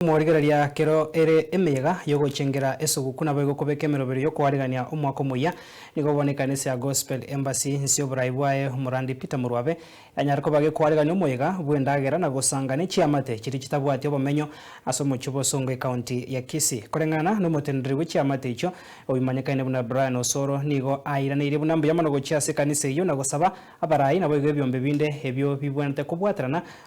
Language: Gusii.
Emorigereria kero ere emeyega y'ogochengera esoguku nabo egokobeka emerobero y'okoarerania omwaka omoyia. Nigo bono ekanisa ya Gospel Embassy nse y'oborai bwaye omorandi Peter Morwabe yanyare koba gekoarerania omoyega bw'endagera na gosanga ne chiamate chiria chitabwati obomenyo ase omochie bosongo ekaunti ya Kisii. Koreng'ana nomotendereri bwe chiamate echio oimanyekane buna Brian Osoro nigo airaneirie buna mbuya mono gochia ase ekanisa eyio na gosaba abarai naboigo ebiombe binde ebio bibwenerete kobwaterana